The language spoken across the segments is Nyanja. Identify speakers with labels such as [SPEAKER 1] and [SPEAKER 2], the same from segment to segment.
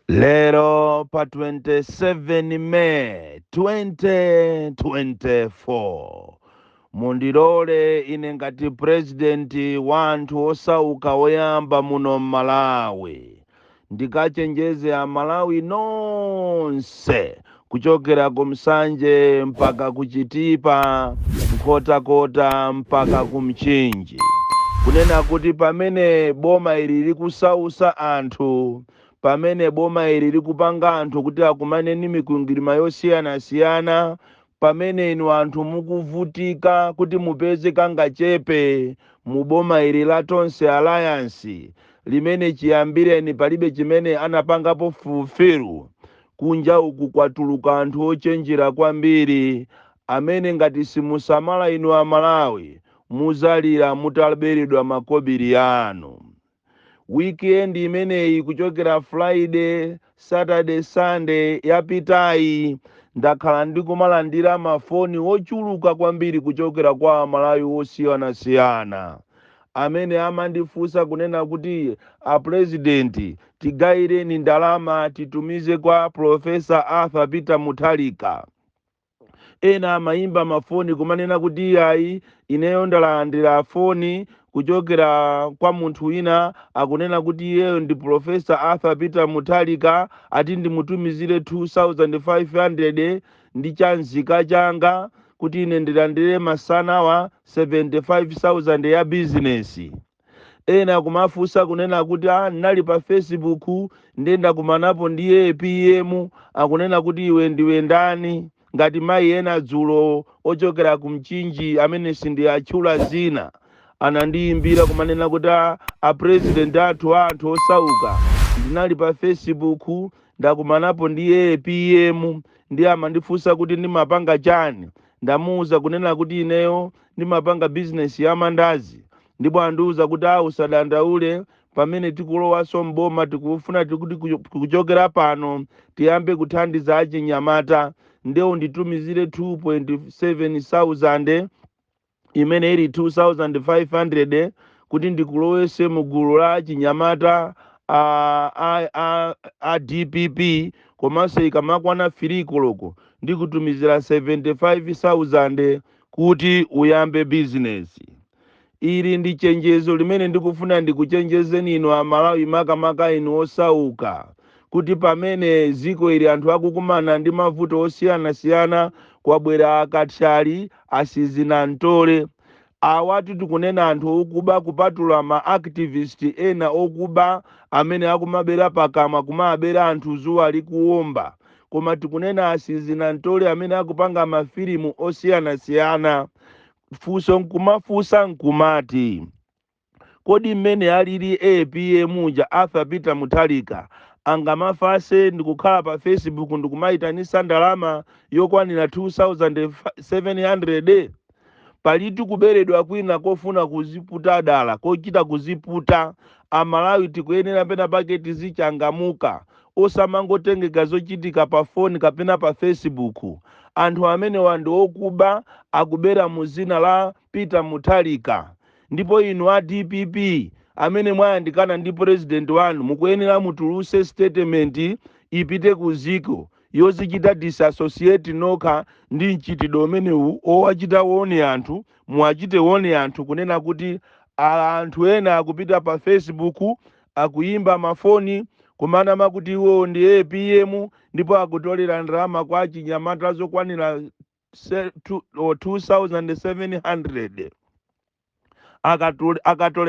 [SPEAKER 1] Lero pa 27 May 2024 mundilole ine ngati purezidenti wa anthu osauka oyamba muno m'Malawi ndikachenjeze Amalawi nonse kuchokera ku Nsanje mpaka ku Chitipa, Nkhotakota mpaka ku Mchinji, kunena kuti pamene boma ili likusausa anthu, pamene boma ili likupanga anthu kuti akumane ndi mikwingwirima yosiyanasiyana, pamene inu anthu mukuvutika kuti mupeze kangachepe mu boma ili la Tonse Alliance, limene chiyambireni palibe chimene anapangapo fulfill, Kunja uku kwatuluka anthu ochenjera kwambiri amene ngati simusamala inu a Malawi muzalira mutaberedwa makobiri anu. Weekend imeneyi kuchokera Friday, Saturday, Sunday yapitayi ndakhala ndikumalandira ma foni ochuluka kwambiri kuchokera kwa a Malawi osiyanasiyana amene amandifunsa kunena kuti a president tigaireni ndalama titumize kwa professor Arthur Peter Mutharika ena amayimba mafoni kumanena kuti iyayi ineyo ndalandira foni kuchokera kwa munthu wina akunena kuti iyeyo ndi professor Arthur Peter Mutharika ati ndimutumizire 2500 ndi chanzika changa kuti ine ndilandire masanawa 75,000 ya bizinesi. Ena akumafunsa kunena kuti ah, ndinali pa Facebook ndiye ndakumanapo ndi apm akunena kuti iwe ndiwe ndani ngati mayi ena dzulo ochokera ku Mchinji amene sindiatchula zina anandiyimbira kumanena kuti ah, a president athu a anthu osauka ndinali pa Facebook ndakumanapo ndi apm ndiye amandifunsa kuti ndimapanga chani ndamuuza kunena kuti ineyo ndimapanga bizinesi ya mandazi ndipo andiuza kuti a usadandaule pamene tikulowanso m'boma tikufuna tikuti kucho- kuchokera pano tiyambe kuthandiza achinyamata nde unditumizire 2,700 imene ili 2500 kuti ndikulowese mu gulu la achinyamata a, a, a, a dpp komanso ikamakwana 3 koloko ndikutumizira 75,000 kuti uyambe bizinesi. Ili ndi chenjezo limene ndikufuna ndikuchenjezeni inu Amalawi makamaka inu osauka kuti pamene dziko lili anthu akukumana ndi mavuto osiyanasiyana kwabwera akathyali, asizinamtole. Awatu tikunena anthu okuba kupatula ma activist ena okuba amene akumabera pakamwa kumabera anthu dzuwa likuwomba. koma tikunena asizinamtole amene akupanga mafilimu osiyanasiyana funso nkumafunsa nkumati kodi mmene alili apm uja arthur peter mutharika angamafase ndikukhala pa facebook ndikumayitanisa ndalama yokwanira 2700 Palitu kuberedwa kwina kofuna kuziputa dala, kochita kuziputa. A Malawi tikuyenera pena pake tizichangamuka, osamangotengeka zochitika pa phone kapena pa Facebook. Anthu amenewa ndi okuba, akubera mu zina la Peter Mutharika. Ndipo inu a dpp amene mwayandikana ndi president wanu mukuyenera mutuluse statement ipite ku dziko. yozichita disassociate nokha ndi mchitidwe umenewu owachita warn anthu muwachite warn anthu kunena kuti anthu ena akupita pa facebook akuyimba mafoni kumanama kuti iwowo ndi apm ndipo akutolera ndalama kwa achinyamata zokwanira 2700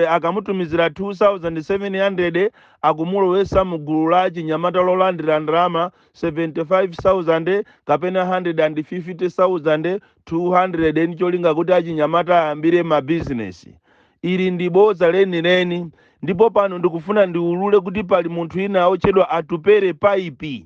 [SPEAKER 1] akamutumizira 2700 akumulowesa mu gulu la achinyamata lolandira ndalama 75000 kapena 150000 200 ndi cholinga kuti achinyamata ayambire mabizinesi ili ndi bodza lenileni ndipo pano ndikufuna ndiulule kuti pali munthu wina wotchedwa atupere paipi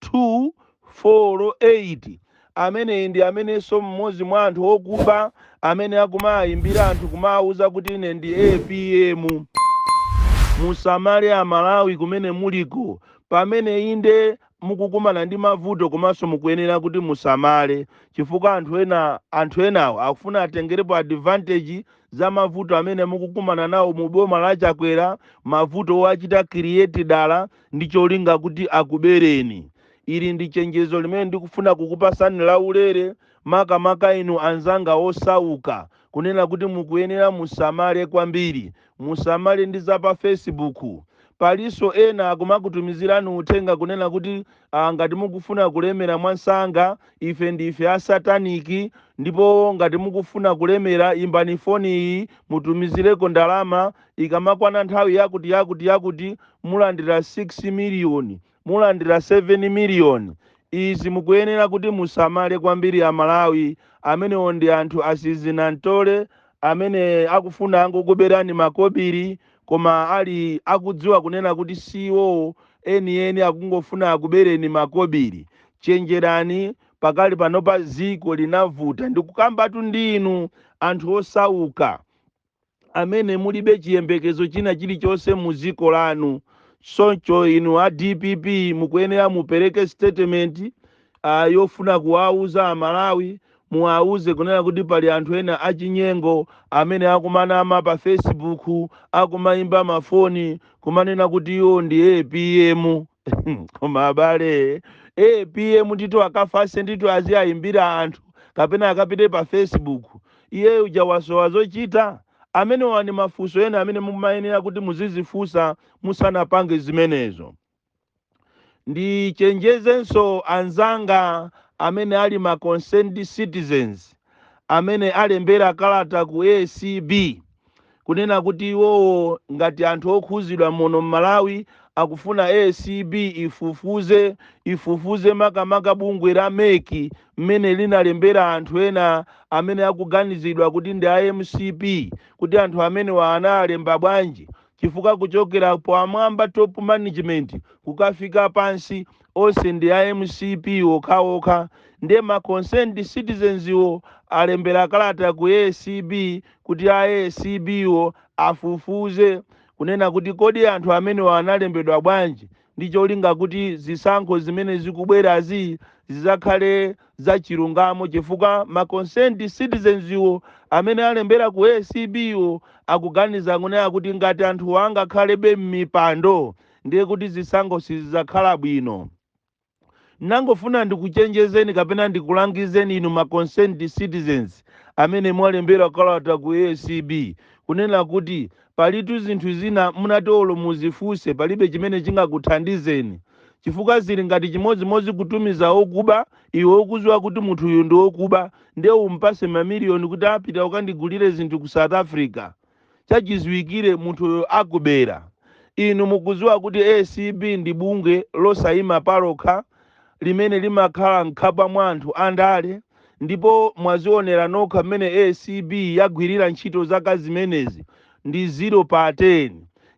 [SPEAKER 1] 2, 4, 8, Ameneyi ndi amenenso mmodzi mwa anthu okuba amene akumaaimbira anthu kumaauza kuti ine ndi apm. Musamale amalawi kumene muliko pamene inde mukukumana ndi mavuto komanso mukuyenera kuti musamale chifukwa anthu enawo akufuna atengerepo advantage za mavuto amene mukukumana nawo mu boma la Chakwera, mavuto owachita create dala ndi cholinga kuti akubereni. Ili ndi chenjezo limene ndikufuna kukupasani laulere, makamaka inu anzanga osauka, kunena kuti mukuyenera musamale kwambiri. Musamale ndi za pa Facebook. Palinso ena akumakutumizirani uthenga kunena kuti ah, ngati mukufuna kulemera mwansanga, ife ndife a satanic, ndipo ngati mukufuna kulemera imbani foni iyi mutumizireko ndalama Ikamakwana nthawi yakuti yakuti yakuti, mulandira 6 miliyoni, mulandira 7 miliyoni. Izi mukuyenera kuti musamale kwambiri a Malawi. Amenewo ndi anthu asizinantole amene akufuna angokuberani makobiri koma ali akudziwa kunena kuti si iwowo enieni akungofuna akubereni makobiri. Chenjerani pakali panopa dziko linavuta. Ndikukambatu ndi inu anthu osauka. amene mulibe chiyembekezo china chilichonse mu dziko lanu. Choncho inu a dpp mukuyenera mupereke statement yofuna kuwauza a Malawi, muwauze kunena kuti pali anthu ena achinyengo amene akumanama pa Facebook, akumaimba ma foni kumanena kuti iwo ndi apm. Koma abale, apm ndithu akafase ndithu aziayimbira anthu kapena akapite pa Facebook? Iye uja wasowa zochita? Amenewa ndi mafunso ena amene mumayenera kuti muzidzifunsa musanapange zimenezo. Ndichenjezenso anzanga amene ali ma concerned citizens amene alembera kalata ku acb kunena kuti iwowo ngati anthu okhuzidwa muno mmalawi akufuna acb ifufuze makamaka bungwe la mec mmene linalembera anthu ena amene akuganizidwa kuti ndi a mcp kuti anthu amenewa analemba bwanji chifukwa kuchokera pamwamba top management kukafika pansi onse ndi a mcp okhaokha nde ma concerned citizens wo alembera kalata ku acb kuti a acb wo afufuze kunena kuti kodi anthu amenewa analembedwa bwanji ndi cholinga kuti zisankho zimene zikubwerazi zizakhale za chilungamo chifukwa ma concerned citizens wo amene alembera ku acb wo akuganiza kunena kuti ngati anthuwa angakhalebe mmipando ndiye kuti zisankho sizidzakhala bwino. Nangofuna ndikuchenjezeni kapena ndikulangizeni inu ma concerned citizens amene mwalembera kalata ku ACB kunena kuti palitu zinthu zina munati olo muzifunse palibe chimene chingakuthandizeni chifukwa zili ngati chimodzimodzi kutumiza okuba iwe ukuziwa kuti munthuyu ndi okuba ndiye umpase mamiliyoni kuti pita ukandigulire zinthu ku south africa chachiziwikire munthuyo akubera. Inu mukudziwa kuti acb ndi bungwe losayima palokha limene limakhala mkhapwa mwa anthu andale ndipo mwazionera nokha mmene acb yagwirira ntchito zaka zimenezi ndi zero pa 10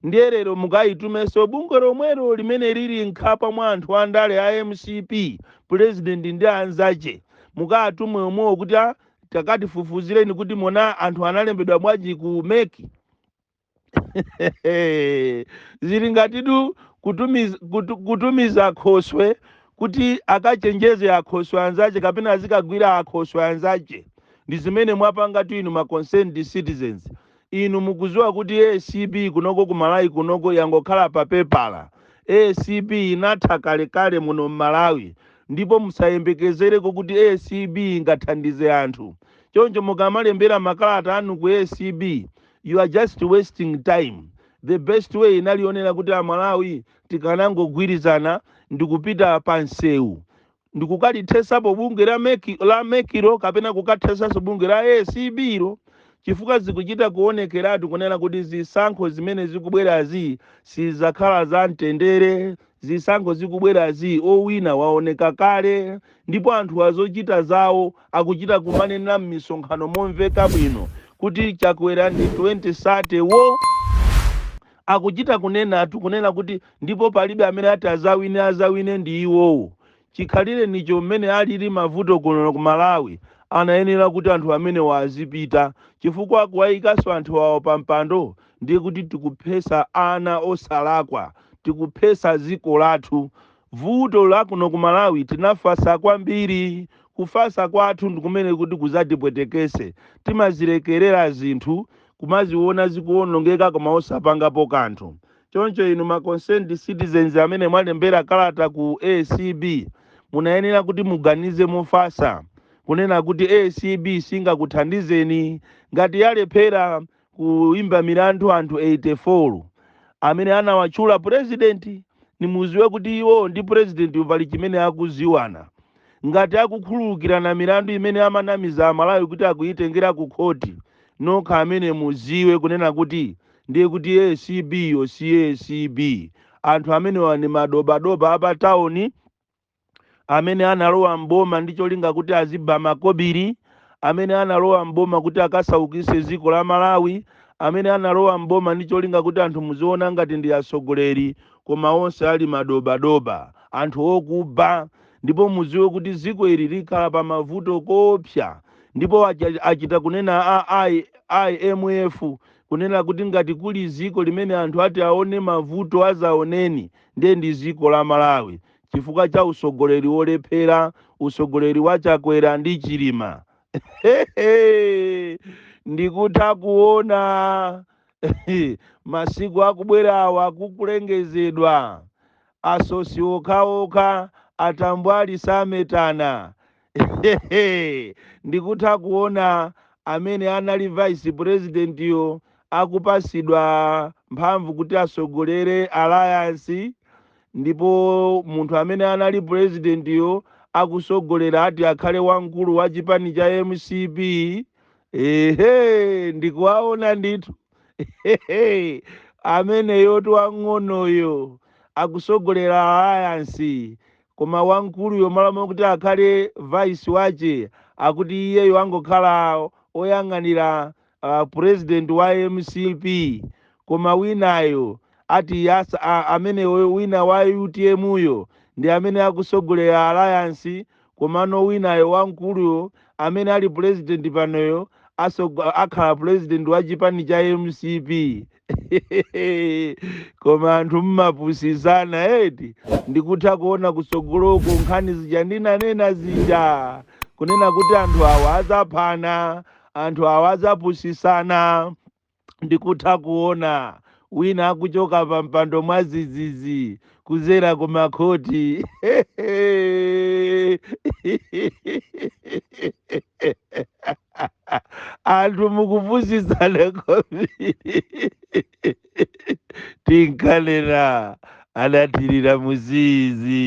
[SPEAKER 1] ndiye lero mukayitumenso bungwe lomwelo limene lili mkhapwa mwa anthu andale a mcp pulezidenti ndi anzache mukaatume omwewo kuti a takatifufuzireni kuti mona anthu analembedwa bwanji ku mec zili ngatitu kutumiza, kutu, kutumiza akhoswe kuti akachenjeze akhoswe anzace kapena azikagwira akhoswe anzace ndi zimene mwapangatu inu ma concerned citizens Inu mukuziwa kuti acb kunoko ku Malawi kunoko yangokhala pa pepala. Acb inatha kale kale muno m'malawi ndipo musayembekezereko kuti acb ingathandize anthu. Choncho mukamalembera makalata anu ku acb you are just wasting time. The best way inali yonena kuti a Malawi tikanangogwirizana ndikupita pa nsewu ndikukathesapo bungwe la mec lo kapena kukathesaso bungwe la acb lo chifukwa zikuchita kuonekeratu kunena kuti zisankho zimene zikubwerazi sizakhala za mtendere zisankho zikubwerazi owina waoneka kale ndipo anthu ake ochita zawo akuchita kumanena m'misonkhano momveka bwino kuti chakwera ndi 2030 wo Akuchita kunenatu, kunena kuti, ndipo palibe amene ati azawine, azawine ndi iwowo. Chikhalirenicho mmene alili mavuto kuno ku Malawi, anayenera kuti anthu amenewa azipita, chifukwa kuwayikanso anthu awa pa mpando ndiye kuti tikuphetsa ana osalakwa, tikuphetsa dziko lathu. Vuto la kuno ku Malawi tinafatsa kwambiri, kufatsa kwathu ndi kumene kuti kudzatipweteketse, timazilekerera zinthu. kumaziwona zikuwonongeka koma osapangapo kanthu. Choncho inu ma concerned citizens amene mwalembera kalata ku acb munayenera kuti muganize mofasa kunena kuti acb singakuthandizeni ngati yalephera kuimba milandu anthu 84 amene anawatchula president nimuziwe kuti iwo ndi president yu pali chimene akuziwana ngati akukhululukirana milandu imene amanamiza amalawi kuti akuyitengera ku khoti nokha amene muziwe kunena kuti ndiye kuti acb yo si acb anthu amenewa ndi madobadoba a pa town amene analowa m'boma ndi cholinga kuti azibe makobiri amene analowa m'boma kuti akasaukise dziko la malawi amene analowa m'boma ndi cholinga kuti anthu muziona ngati ndi atsogoleri koma onse ali madobadoba anthu okuba ndipo mudziwe kuti dziko ili likhala pa mavuto koopsa ndipo acha- achita kunena a imf kunena kuti ngati kuli dziko limene anthu ati aone mavuto azaoneni ndiye ndi dziko la malawi chifukwa cha usogoleri wolephera usogoleri wa chakwera ndi chilima Hehe, ndikutha kuona masiku akubwerawa kukulengezedwa Atsotsi okhaokha atambwali sametana hehehe ndikutha kuona amene anali vice president yo akupasidwa mphamvu kuti asogolere alliance ndipo munthu amene anali president yo akusogolera ati akhale wamkulu wa chipani cha mcp ehe ndikuwaona ndithu. Hehe, ameneyotu wang'onoyo akusogolera alayansi koma wamkuluyo malo mokuti akhale vice wache akuti iyeyo angokhala oyang'anira uh, president wa mcp koma winayo ati yasa a- amene we- wina wa utm yo ndi amene akusogolera alayansi Komano winayo wamkuluyo amene ali president panoyo asogo- akhala president wa chipani cha mcp koma anthu mmapusisana eti ndikutha kuona kusogoloko nkhani zija ndinanena zija kunena kuti anthu awa azaphana anthu awa azapusisana ndikutha kuona wina akuchoka pa mpando mwa zizizi kuzera ku makhoti anthu mukupusitsana kwambiri tinkanena anathirira muzizi